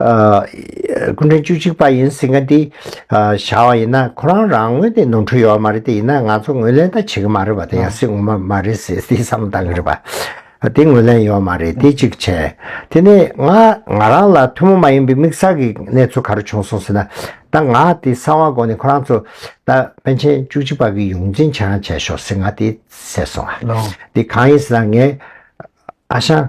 སྐུ་ཕྲེང་བཅུ་གཅིག་པ་ཡིན་ཟེར་མཁན་དེ་བཞག་བ་ཡིན་ན་ཁོ་རང་རང་ངོས་ནས་ནོར་འཁྲུལ་ཡོད་བ་མ་རེད་དེ་ཡིན་ན་ང་ཚོ་ངོས་ལེན་ད་བྱེད་ཀྱི་མ་རེད་བ་དེ་ཡང་སྲིད་ངོ་མ་མ་རེད་ཟེར་དེ་བསམ་བློ་གཏང་གི་རེད་བ། དེ་ངོས་ལེན་ཡོད་མ་རེད་དེ་གཅིག་བྱས། དེ་ནས་ང་ང་རང་ལ་ཐུན་མོང་མ་ཡིན་པའི་དམིགས་བསལ་གྱི་གནས་ཚུལ་ག་རེ་བྱུང་སོང་ཟེར་ན་ད་ང་དེ་གསང་བ་གོ་ནས་ཁོ་རང་ཚོ་ད་པན་ཆེན་བཅུ་གཅིག་པ་གི་ཡོངས་འཛིན་བྱས་རང་བྱས་ཤོག་ཟེར་ང་དེ་ཟེར་སོང་བ་དེ་གང་ཡིན་ཟེར་ན་ངས་ཨ་ཞང།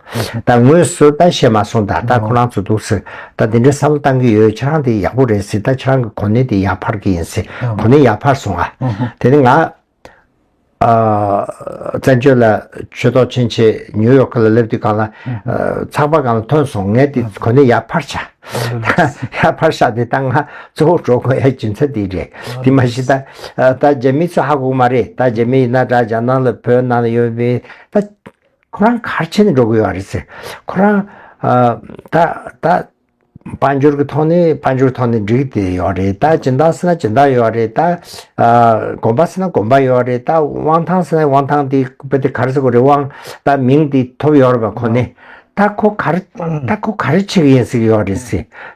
ད་ངོས་སུ་ད་བཤད་མ་སོང་ད་ལྟ་ཁོ་རང་ཚོ་འདུག་སྲིད་ད་དེ་འདྲའི་བསམ་བློ་གཏང་གི་ཡོད་ཁྱེད་རང་དེ་ཡག་པོ་རེད་སྲིད་ད་ཁྱེད་རང་གི་གོ་གནས་དེ་ཡར་འཕར་གི་ཡིན་སྲིད་གོ་གནས་ཡར་འཕར་སོང་ཨ། དེ་ནི་ང། བཙན་བྱོལ་ལ་ཆོས་ཐོག་ཕྱིན་ཆད་ཉིའུ་ཡོག་ཁི་ལ་སླེབས་དུས་གང་ལ། ཚགས་པར་གང་ལ་ཐོན་སོང་ངས་དེ་གོ་གནས་ཡར་འཕར་བྱ། ཡར་འཕར་བྱ་དེ་ད་ང་གཙོ་བོ་འགྲོ་དགོས་ཡ་རྒྱུ་མཚན་དེ་རེད་དེ་མ་གཞི་ད་ད་རྗེ་མི་ཚོ་ཧ་གོ་གི་མ་རེད་ད་རྗེ་མི་ཡིན་ན་དགྲ་རྒྱ་ནག་ལ་བོད་ནང་ལ་ཡོད་མི་ད། ཁོ་རང་གར་ཕྱིན་ནས་འགྲོ་དགོས་ཡོད་རེད་ཟེར། ཁོ་རང་ད་ད་དཔལ་འབྱོར་གྱི་ཐོག་ནས་དཔལ་འབྱོར་ཐོག་ནས་འགྲིག་དེ་ཡོད་རེད་ད་སྦྱིན་བདག་ཟེར་ན་སྦྱིན་བདག་ཡོད་རེད་ད། དགོན་པ་ཟེར་ན་དགོན་པ་ཡོད་རེད་ད་དབང་ཐང་ཟེར་ན་དབང་ཐང་དེ་དཔེ་དེ་གར་ཟེར་གོ་རེད་དབང་ད་མིང་དེ་ཐོབ་ཡོད་རེད་པ་ཁོ་ནས། ད་ཁོ་གར་ད་ཁོ་གར་ཕྱིན་གྱི་ཡིན་ཟེར་གྱི་ཡོད་རེད་ཟེར།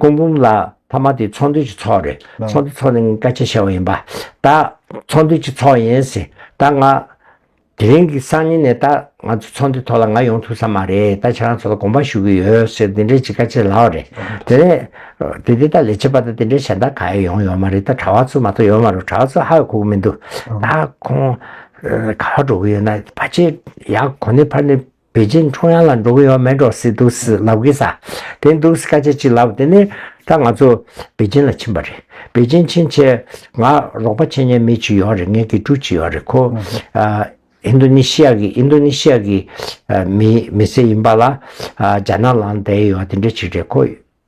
ཀོང་བུམ་ལ་ཐ་མ་དེ་ཚོང་དུས་ཀྱི་ཚོགས་རེད་ཚོང་དུས་ཚོགས་ནི་ངས་སྐད་ཆ་བྱས་བ་ཡིན་པ་ད་ཚོང་དུས་ཀྱི་ཚོགས་ཡིན་ཟེར་ད་ང་དེ་རིང་གི་སང་ཉིན་ནས་ད་ང་ཚོ་ཚོང་དུས་ཐོག་ལ་ང་ཡོང་ཐུབ་ས་མ་རེད་ད་ཁྱེད་རང་ཚོ་ལ་དགོངས་པ་ཞུ་གི་ཡོད་ཟེར་དེ་འདྲའི་ཅིག་སྐད་ཆ་ལབ་རེད་དེ་ནས་དེ་དེ་ད་ལས་བྱེད་པ་ད་དེ་འདྲའི་གཞན་དག་ག་ཡ་ཡོང་ཡོད་མ་རེད་ད་གྲྭ་བ་ཚོ་མ་གཏོགས་ཡོད་མ་རེད་གྲྭ་བ་ཚོ་ཧ་གོ་གི་མི་འདུག་ད་ཁོང་ག་བ་འགྲོ་གི་ཡོད་ན་ཕ་ཆེ་ཡག་གོ་ནི་ཕ་ནི། པེ་ཅིན་ཀྲུང་དབྱང་ལ་འགྲོ་གི་ཡོད་མེད་འགྲོ་སྲིད་འདུག་སྲིད་ལབ་གི་ས་དེ་འདུག་སྲིད་སྐད་ཆ་གཅིག་ལབ་དེ་ནས་ད་ང་ཚོ་པེ་ཅིན་ལ་ཕྱིན་པ་རེད་པེ་ཅིན་ཕྱིན་ཆེད་ང་རོགས་པ་ཆེ་ཉེ་མི་གཅིག་ཡོད་རེད་ངའི་དགེ་ཕྲུག་གཅིག་ཡོད་རེད་ཁོ་ཨིན་དོ་ནི་ཤི་ཡ་གི་ཨིན་དོ་ནི་ཤི་ཡ་གི་མི་མི་སེ་ཡིན་པ་ལ་རྒྱ་ནག་ལང་བསྡད་ཡོད་དེ་འདྲ་གཅིག་རེད་ཁོ་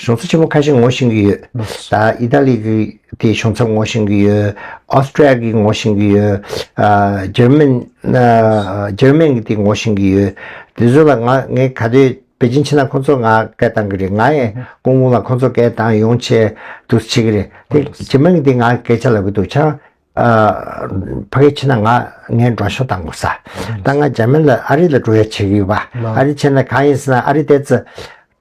གཞུང་ཚབ་ཆེན་མོ་ཁ་ཤས་ངོ་ཤེས་ཀྱི་ཡོད། ཨི་ཐ་ལི་གི་དེའི་གཞུང་ཚབ་ངོ་ཤེས་ཀྱི་ཡོད། Austria གི་ངོ་ཤེས་ཀྱི་ཡོད། German German གི་དེ་ངོ་ཤེས་ཀྱི་ཡོད། དེ་ཚོ་ལ་ང་ངས་ག་དུས་པེ་ཅིན་ཕྱིན་ན་ཁོང་ཚོར་ང་སྐད་བཏང་གི་རེད། ང་ཡང་སྐུ་ངོ་ལ་ཁོང་ཚོར་སྐད་བཏང་ཡོང་ཆེད་དུ་བྱེད་ཀྱི་རེད། དེ German གི་དེ་ང་སྐད་ཆ་ལབ་ཀྱི་འདུག་ཆ་ཕ་གིའི་ཕྱིན་ན་ང་ངའི་འགྲོ་ཤོག་བཏང་དགོས་ས། ད་ང German ལ་ཨ་རི་ལ་འགྲོ་ཡ་བྱེད་ཀྱི་ཡོད་པ། ཨ་རི་ཕྱིན་ན་གང་ཡིན་ཟེར་ན་ཨ་རི་ལྟས་ཚེ།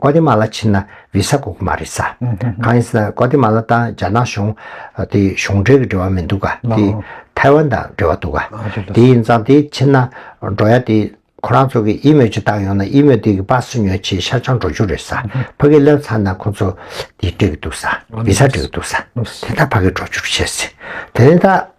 ཀོ་ཏེ་མ་ལ་ཕྱིན་ན་བི་ས་དགོས་ཀྱི་མ་རེད་ས། གང་ཡིན་ཟེར་ན་ཀོ་ཏེ་མ་ལ་དང་རྒྱ་ནག་གཞུང་དེ་གཞུང་འབྲེལ་གྱི་འབྲེལ་བ་མི་འདུག་ག་དེ་ཐའེ་ཝན་དང་འབྲེལ་བ་འདུག་ག། དེ་ཡིན་ཙང་དེ་ཕྱིན་ན་འགྲོ་ཡ་དེ་ཁོ་རང་ཚོ་གི་དབྱི་མོས་ཅི་བཏང་ཡོང་ན་དབྱི་མོས་དེ་གི་པགས་སུ་ཉོས་ཆེ་ཤ་ཆང་འགྲོ་རྒྱུ་རེད་ས་ཕ་གི་སླེབས་ཚར་ན་ཁོ་ཚོ་དེ་སྤྲད་ཀྱི་འདུག་ས་བི་ས་སྤྲད་ཀྱི་འདུག་ས་དེ་ད་ཕ་གི་འགྲོ་རྒྱུར་བཤད་ཟེར་དེ་ནས་ད།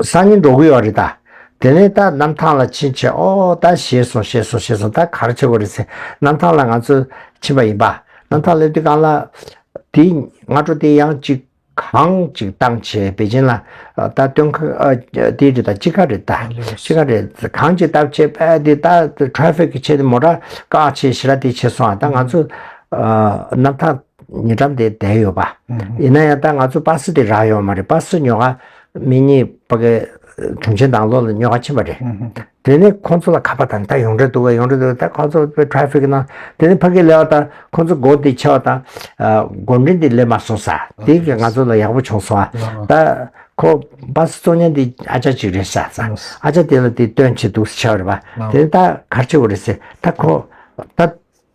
སང་ཉིན་འགྲོ་གི་ཡོད་རེད་ད། དེ་ནས་ད་གནམ་ཐང་ལ་ཕྱིན་ཆེད་ཨོ་ད་བཞེས་སོང་བཞེས་སོང་བཞེས་སོང་ད་ག་རེ་བྱེད་དགོས་རེད་ཟེར་གནམ་ཐང་ལ་ང་ཚོ་ཕྱིན་པ་ཡིན་པ། གནམ་ཐང་སླེབས་དུས་རྐང་ལག་དེ་སྔ་དྲོ་དེ་ཡང་གཅིག་གང་གཅིག་བཏང་བྱས་པེ་ཅིན་ལ་ད་སྟོན་ཁ་དེ་རེད་ད་དཔྱིད་ཁ་རེད་ད་དཔྱིད་ཁ་རེད་གང་གཅིག་བཏབ་བྱས་པ་དེ་ད་ཏྲ་ཧྥིག་གི་ཆེད་དེ་མོ་ཏྲ་ཀ་ཆེད་ཞེ་ར་དེ་བྱེད་སོང་ད་ང་ཚོ་གནམ་ཐང། ཉེ་འགྲམ་དེ་བསྡད་ཡོད་པ། ཡིན་ན་ཡང་ད་ང་ཚོ་པར་སི་དེ་རག་ཡོད་མ་རེད་པར་སི་ཉོ་ཁ་མི་གཉིས་པ་ཀའི་དྲུང་ཆེན་དང་ལོ་ལ་ཉོ་ཁ་ཕྱིན་པ་རེད། དེ་ནི་ཁོང་ཚོ་ལ་ཁ་པར་དང་ད་ཡོང་འདྲ་འདུག་ཡོང་འདྲ་འདུག་ད་ཁོང་ཚོ་པའི Traffic ན་དེ་ནི་ཕ་གིའི་ལས་བ་དང་ཁོང་ཚོ་སྒོ་དེ་ཕྱེ་བ་དང་སྒོ་འགྲིམ་དེ་སླེབས་མ་སོང་ས་དེ་གི་ང་ཚོ་ལ་ཡག་པོ་བྱུང་སོང་བ་ད་ཁོ་པར་སི་གཙོ་གཉེར་དེ་ཨ་ཅག་ཅིག་རེད་ས་ས་ཨ་ཅག་དེ་ལ་དེ་སྟོན་བྱེད་འདུག་ས་ཆ་བ་རེད་པ་དེ་ནི་ད་གར་ཆེ་བོ་རེད་ས་ད་ཁོ་ད།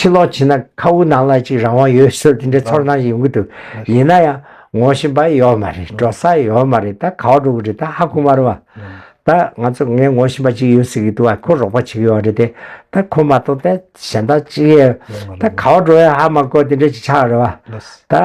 ཕྱིར་ལོག་བྱས་ན་ཁ་དབུགས་ནང་ལ་ཅིག་རང་དབང་ཡོད་ཟེར་དེ་འདྲའི་ཚོར་སྣང་ཞིག་ཡོང་གི་འདུག་ཡིན་ན་ཡང་ངོ་བཞིན་པ་ཡོད་མ་རེད་འགྲོ་ས་ཡོད་མ་རེད་ད་ག་བ་འགྲོ་གི་རེད་ད་ཧ་གོ་མ་རུང་བ། ད་ང་ཚོ་ངས་ངོ་བཞིན་པ་ཅིག་ཡོད་ཟེར་གི་འདུག་བ་ཁོ་རོགས་པ་བྱེད་ཀྱི་ཡོད་རེད་དེ་ད་ཁོ་མ་གཏོགས་ད་གཞན་དག་ཅི་ཡོད་ད་ག་བ་འགྲོ་ཡང་ཧ་མ་གོ་དེ་འདྲའི་ཅིག་ཆགས་རེད་བ། ད།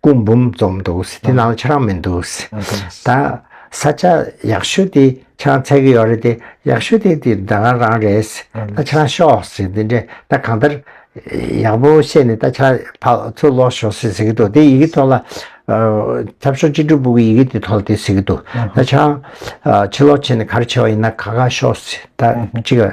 སྐུ་འབུམ་འཛོམས་འདུག་སེ་དེ་ནང་ཁྱེད་རང་མི་འདུག་སེ་ད་ས་ཆ་ཡག་ཤོས་དེ་ཁྱེད་རང་ཚད་གི་ཡོད་རེད་དེ་ཡག་ཤོས་དེ་དེ་ད་རང་རང་རེད་སེ་ད་ཁྱེད་རང་ཤོག་སེ་དེ་འདྲས་ད་གང་ལྟར་ཡག་པོ་བཤད་ནས་ད་ཁྱེད་རང་ཕ་ཚུར་ལོག་ཤོག་སེ་ཟེར་གི་འདུག་དེ་ཡི་གི་ཐོག་ལ་ཁྱབ་ཤོག་གཅིག་དྲུག་པུ་གི་ཡི་གི་དེ་ཐོག་ལ་དེ་ཟེར་གི་འདུག་ད་ཁྱེད་རང་ཕྱི་ལོག་བྱས་ནས་ག་རེ་བྱས་པ་ཡིན་ན་ག་ག་ཤོག་སེ་ད་གཅིག།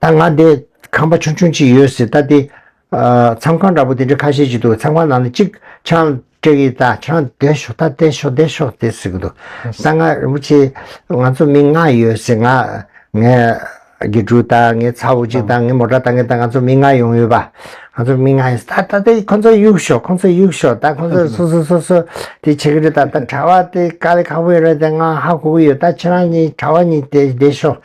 ད་ང་འདི་ཁང་པ་ཆུང་ཆུང་གཅིག་ཡོད་ཟེར་ད་དེ། མཚམས་ཁང་འདྲ་པོ་དེ་འདྲ་ཁ་ཤས་ཅིག་འདུག་མཚམས་ཁང་ནང་ནས་གཅིག་ཆང་སྤྲད་ཀྱི་ད་ཆང་བསྡད་ཤོག་ད་བསྡད་ཤོག་བསྡད་ཤོག་དེ་ཟེར་གྱི་འདུག་ད་ང་རིན་པོ་ཆེ་ང་ཚོ་མི་ལྔ་ཡོད་ཟེར་ང། ངའི་དགེ་ཕྲུག་ད་ངའི་ཚ་བོ་གཅིག་ད་ངའི་མོ་ཏྲ་ད་ངའི་ད་ང་ཚོ་མི་ལྔ་ཡོང་ཡོད་པ། ང་ཚོ་མི་ལྔ་ཡོད་ཟེར་ད་ད་དེ་ཁོ་ཚོ་གཡུག་ཤོག་ཁོ་ཚོ་གཡུག་ཤོག་ད་ཁོ་ཚོ་སོ་སོ་སོ་སོ་དེ་བྱེད་ཀྱི་རེད་ད་ད་གྲྭ་བ་དེ་དཀའ་ལས་ཁག་པོ་ཡོད་རེད་དེ་ང་ཧ་གོ་གི་ཡོད་ད་ཁྱེད་རང་གཉིས་གྲྭ་བ་གཉིས་དེ་བསྡད་ཤོག།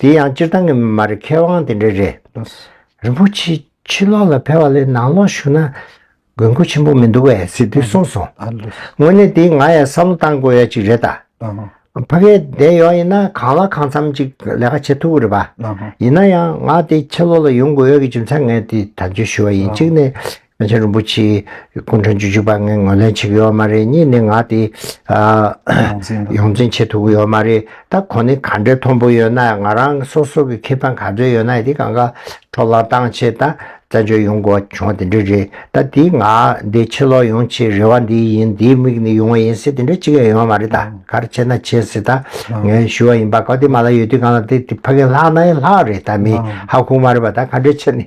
དེ་ཡང་སྤྱིར་བཏང་གི་མ་རེད་མཁས་དབང་དེ་འདྲ་རེད། རིན་པོ་ཆེ་ཕྱི་ལོག་ལ་ཕེབས་པ་ལས་ནང་ལོག་བཞུགས་ན་དགོས་མཁོ་ཆེན་པོ་མི་འདུག་པས་ཟེར་དུས་གསུངས་སོང། དངོས་གནས་དེ་ང་ཡང་བསམ་བློ་བཏང་དགོས་ཡ་གཅིག་རེད་ད། ཕ་གས་བསྡད་ཡོད་ཡིན་ན་གང་ལ་གང་འཚམ་ཅིག་ལས་ཀ་བྱེད་ཐུབ་ཀི་རེད་པ། ཡིན་ན་ཡང་ང་དེ་ཕྱི་ལོག་ལ་ཡོང་དགོས་ཡོད་ཀི་ཅུང་ཚ་ངས་དེ་དང་བརྗོད་ཞུ་བ་ཡིན་གཅིག་ནས་ང་ཆེན་རིན་པོ་ཆེའི་སྐུ་མགྲོན་བཅུ་བཞུགས་པ་ངས་ངོས་ལེན་བྱེད་ཀྱི་ཡོད་མ་རེད་གཉིས་ནས་ང་དེ་ཡོངས་འཛིན་བྱེད་ཐུབ་ཀྱི་ཡོད་མ་རེད་ད་གོ་ནི་ག་འདྲའི་མཐོན་པོ་ཡོད་ན་ཡང་ང་རང་སོ་སོ་གི་ཁེ་ཕན་ག་ཚོད་ཡོད་ན་ཡང་དེ་གང་ག་འཕྲོ་བརླག་གཏང་ཆེད་ད་བཙན་བྱོལ་ཡོང་དགོས་བྱུང་བ་དེ་འདྲ་རེད་ད་དེ་ང་འདི་ཕྱིར་ལོག་ཡོང་ཆེད་རེ་བ་འདི་ཡིན་དེའི་དམིགས་ནི་ཡོང་བ་ཡིན་སྲིད་དེ་འདྲ་གཅིག་ཡང་ཡོད་མ་རེད་ད་གར་བྱེད་ན་བྱེད་སྲིད་ད་ངས་ཞུ་བ་ཡིན་པ་ག་དེ་མ་ལ་ཡོད་དུས་གང་ལ་དེ་ཕ་གིན་ལྷག་ན་ཡང་ལྷག་རེད་ད་མི་ཧ་ཁུག་མ་རེད་པ་ད་ག་འདྲའི་ཕྱིར་ནི།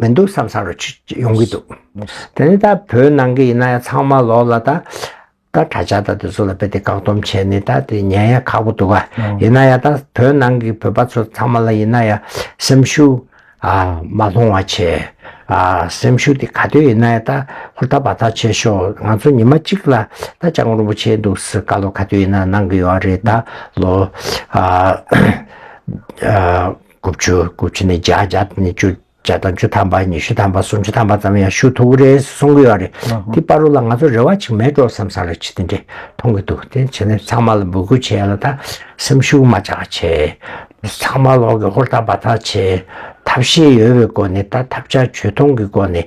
མི་འདུག་བསམ་བསམ་རུ་ཡོང་གི་འདུག་དེ་ནས་ད་བོད་ནང་གི་ཡིན་ན་ཡང་ཚང་མ་ལོག་ལ་ད་ད་དྲ་ཇག་ད་དེ་ཚོ་ལ་དཔེ་དེ་བཀག་སྡོམ་བྱས་ནས་ད་དེ་ཉན་ཡ་ཁག་པོ་འདུག་ག་ཡིན་ན་ཡང་ད་བོད་ནང་གི་བོད་པ་ཚོ་ཚང་མ་ལ་ཡིན་ན་ཡང་སེམས་ཤུགས་ཨ་མ་སློང་བ་བྱས་ཨ་སེམས་ཤུགས་དེ་ག་དུས་ཡིན་ན་ཡང་ད་ཧུར་ཐག་འབར་ཐག་བྱེད་ཤོག་ང་ཚོ་ཉི་མ་གཅིག་ལ་ད་ལྕགས་མགོ་རིན་པོ་ཆེ་འདུག་སེ་བཀའ་སློབ་ག་དུས་ཡིན་ན་གནང་གི་ཡོད་རེད་ད་ལོ་ཨ། དགུ་བཅུ་དགུ་བཅུ་ནས་བརྒྱ་བརྒྱ་དང་ནས་བཅུ་བརྒྱ་དང་བཅུ་ཐམ་པ་ཉི་ཤུ་ཐམ་པ་སུམ་ཅུ་ཐམ་པ་ཙམ་ཡང་ཞུ་ཐུབ་རེད་གསུང་གི་ཡོད་རེད་དེ་པར་རོ་ལ་ང་ཚོ་རེ་བ་ཅིག་མེད་འགྲོ་བསམ་བསམ་རེ་བྱེད་དེ་འདྲས་མཐོང་གི་འདུག་དེ་བྱས་ནས་ཚང་མ་ལ་འབོད་སྐུལ་བྱས་ལ་ད་སེམས་ཤུགས་མ་ཆག་བྱས་ཚང་མ་ལོག་གི་ཧུར་ཐག་འབར་ཐག་བྱས་ཐབས་ཤེས་ཡོད་པའི་སྒོ་ནས་ད་ཐབས་བྱ་བྱོས་མཐོང་གི་སྒོ་ནས།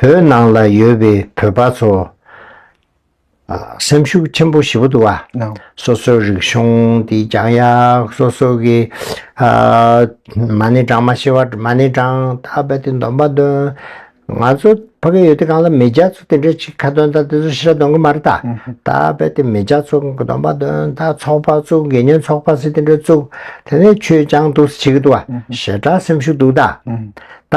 བོད་ནང་ལ་ཡོད་པའི་བོད་པ་ཚོ་སེམས་ཤུགས་ཆེན་པོ་ཞི་བོ་འདུག་བ། སོ་སོའི་རིག་གཞུང་དེ་རྒྱང་ཡག་སོ་སོ་གི་མ་ཎི་བགྲང་མ་ཤེས་པ་མ་ཎི་བགྲང་ད་རྦད་དེ་འདོམས་པ་འདོན། ང་ཚོ་ཕ་གི་ཡུལ་དེ་གང་ལ་མི་རྒྱ་ཚོ་དེ་འདྲའི་ཆིག་ཁ་འདོན་ད་དེ་ཚོ་ཤི་ར་འདོན་གི་མ་རེད་ད་ད་རྦད་དེ་མི་རྒྱ་ཚོ་འདོམས་པ་འདོན་ད་ཚོགས་པ་བཙུགས་དགེ་བསྙེན་ཚོགས་པ་སི་དེ་འདྲའི་བཙུགས་དེ་ནས་ཆོས་ཀྱང་འདུག་སི་བྱེད་གི་འདུག་བ་ཞེ་དྲག་སེམས་ཤུགས་འདུག་ད་ད་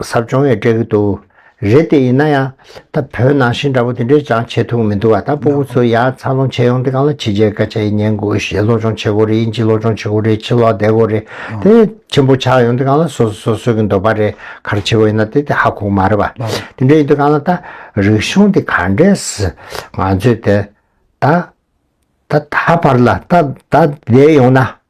ཟབ་སྦྱོང་ཡོད་སྤྲད་ཀྱི་འདུག་རེད་དེ་ཡིན་ན་ཡང་ད་བོད་ནང་བཞིན་འདྲ་པོ་དེ་འདྲས་ཅང་བྱེད་ཐུབ་ཀྱི་མི་འདུག་བ་ད་སྤོ་བོ་ཚོ་ཡར་འཚར་ལོངས་བྱས་ཡོང་དེ་གང་ལ་ཕྱི་རྒྱལ་སྐད་ཆ་ཡིན་ཉན་དགོས་གཞས་སློབ་སྦྱོང་བྱེད་དགོས་རེད་དབྱིན་ཇི་སློབ་སྦྱོང་བྱེད་དགོས་རེད་ཕྱི་ལོག་བསྡད་དགོས་རེད་དེ་ཆེན་པོ་ཆགས་ཡོང་དེ་གང་ལ་སོ་སོ་སོ་གྱི་འདོད་པ་རེད་གར་བྱེད་པ་ཡིན་ན་དེ་དེ་ཧ་གོ་མ་རེད་བ་དེ་འདྲས་ཡིན་དུས་གང་ལ་ད་རིག་གཞུང་དེ་ག་འདྲས་སི་ང་ཚོས་དེ་ད་ད་ད་བར་ལ་ད་ད་བསྡད་ཡོང་ན་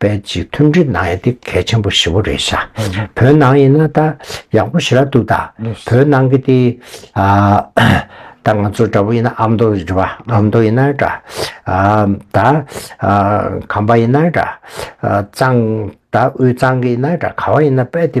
པའི་སྤྱི་མཐུན་སྒྲིལ་གནང་ཡ་དེ་གལ་ཆེན་པོ་ཞེ་བོ་རེད་ཤ་བོད་ནང་ཡིན་ན་ད་ཡག་པོ་ཞེ་ར་འདུག་ད་བོད་ནང་གི་དེ་ད་ང་ཚོ་འདྲ་བོ་ཡིན་ན་ཨ་མདོ་རེད་བ་ཨ་མདོ་ཡིན་ན་འདྲ་ད་ཁམས་པ་ཡིན་ན་འདྲ་གཙང་ད་དབུས་གཙང་གི་ཡིན་ན་འདྲ་ག་བ་ཡིན་ན་པའི་དེ་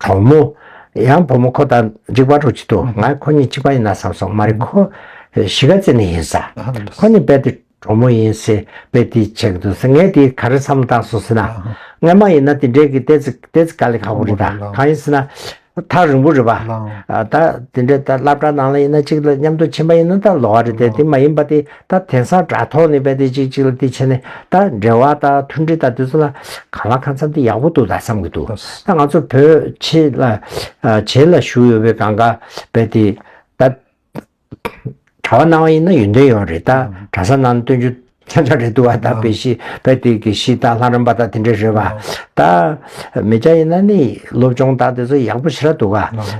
གྲོགས་མོ། ཡང་བུ་མོ་ཁོ་ད་འཇིག་པར་འགྲོ་ཅི་ཐུབ་ང་ཁོ་གཉིས་གཅིག་པ་ཡིན་ན་བསམ་སོང་མ་རེད་ཁོ་གཞིས་ཀ་རྩེ་ནས་ཡིན་ས་ཁོ་གཉིས་དཔེ་དེ་གྲོགས་མོ་ཡིན་ཟེར་དཔེ་དེ་བྱེད་ཀྱི་འདུག་ཟེར་ངས་དེ་ག་རེ་བསམ་བློ་བཏང་སོང་ཟེར་ན། ངས་མ་ཡིན་ན་དེ་འདྲའི་གི་ལྟས་ལྟས་ཚིག་ག་ལས་ཁག་པོ་རེད་ད་གང་ཡིན་ཟེར་ན། ཐག་རིང་པོ་རེད་པ། ད་དེ་འདྲའི་ད་བླ་བྲང་ནང་ལ་ཡིན་ན་གཅིག་ལ་མཉམ་དུ་ཕྱིན་པ་ཡིན་ན་ད་ལོག་ཨ་རེད་དེ་དེ་མ་ཡིན་པ་དེ་ད་དེང་སང་དྲ་ཐོག་ནས་དཔེ་དེ་གཅིག་གཅིག་ལ་དེ་བྱས་ནས་ད་འབྲེལ་བ་ད་མཐུན་སྒྲིལ་ད་དེ་ཚོ་ལ་གང་ལ་གང་འཚམས་དེ་ཡག་པོ་འདུག་ད་བསམ་གྱི་འདུག་ད་ང་ཚོ་བོད་ཕྱི་ལ་བྱེས་ལ་བཞུགས་ཡོད་པའི་གང་ག་དཔེ་དེ་ད་དྲ་བ་གནང་བ་ཡིན་ན་ཡོན་ཏན་ཡོད་རེད་ད་དྲ་ས་ནང་སྟོན་རྒྱུ་ཆ་ཆ་རེད་འདུག་ད་དཔེ་གཞི་དཔེ་དེ་གི་གཞི་ད་ལྷ་རམས་པ་ད་དེ་འདྲ་རེད་བ་ད་མི་སྐྱ་ཡིན་ན་ནི་སློབ་སྦྱོང་ད་དེ་ཚོ་ཡག་པོ་བྱེད་ར་འདུག་ག་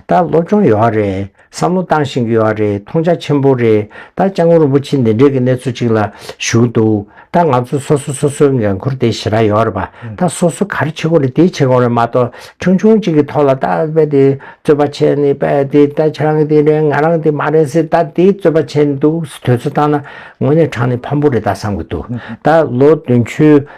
ད་སློབ་སྦྱོང་ཡོད་རེད། བསམ་བློ་བཏང་བཞིན་ཡོད་རེད་མཐོང་ཆ་ཆེན་པོ་རེད་ད་ལྕང་སྐུ་རིན་པོ་ཆེ་འདི་འདྲའི་གི་གནས་ཚུལ་ཅིག་ལ་བཞུགས་འདུག་ད་ང་ཚོ་སོ་སོ་སོ་སོའི་འགན་ཁུར་དེ་ཞེ་དྲག་ཡོད་རེད་པ་ད་སོ་སོ་ག་རེ་བྱེད་དགོས་རེད་དེ་བྱེད་དགོས་རེད་མ་གཏོགས་ཆུང་ཆུང་ཅིག་གི་ཐོག་ལ་ད་དཔེ་དེ་རྩོད་པ་བྱས་ནས་དཔེ་དེ་ད་ཁྱེད་རང་གི་དེ་རེད་ང་རང་དེ་མ་རེད་ཟེར་ད་དེ་རྩོད་པ་བྱས་ནས་འདུག་དོལ་ཚོ་བཏང་ན་དངོས་གནས་དྲང་ནས་ཕམ་པོ་རེད་ད་བསམ་གི་འདུག་ད་ལོ་དོན་ཆུ།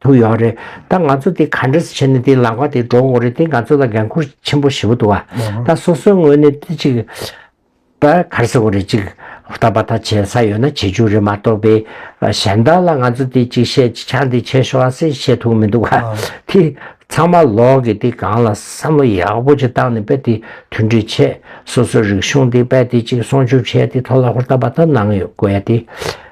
དུ་ཡོང་རེད་ད་ང་ཚོ་དེ་ག་འདྲ་བྱས་ནས་དེ་ལག་པ་དེ་འགྲོ་འོང་རེད་དེ་ང་ཚོ་ལ་འགན་ཁུར་ཆེན་པོ་བྱེད་པོ་འདུག་བ་ད་སོ་སོའི་ངོས་ནས་དེ་ཅིག་པ་གར་ས་གོ་རེད་ཅིག་ལྟ་བ་ད་བྱེད་ས་ཡོད་ན་བྱེད་ཅུག་རེད་མ་གཏོགས་པའི་གཞན་དག་ལ་ང་ཚོ་དེ་ཅིག་བཤད་ཅིག་ཆ་འདི་བྱེད་ཤོག་ཨ་སེ་བཤད་ཐུག་མི་འདུག་བ་དེ་ཚང་མ་ལོག་གི་དེ་གང་ལ་བསམ་བློ་ཡག་པོ་ཅིག་བཏང་ནས་པེ་དེ་མཐུན་སྒྲིལ་བྱེད་སོ་སོའི་རིག་གཞུང་དེ་པེ་དེ་ཅིག་སྲུང་སྐྱོབ་བྱེད་དེ་ཐོག་ལ་ཧུར་ཐག་པ་ད་གནང་ཡོད་དགོས་དེ།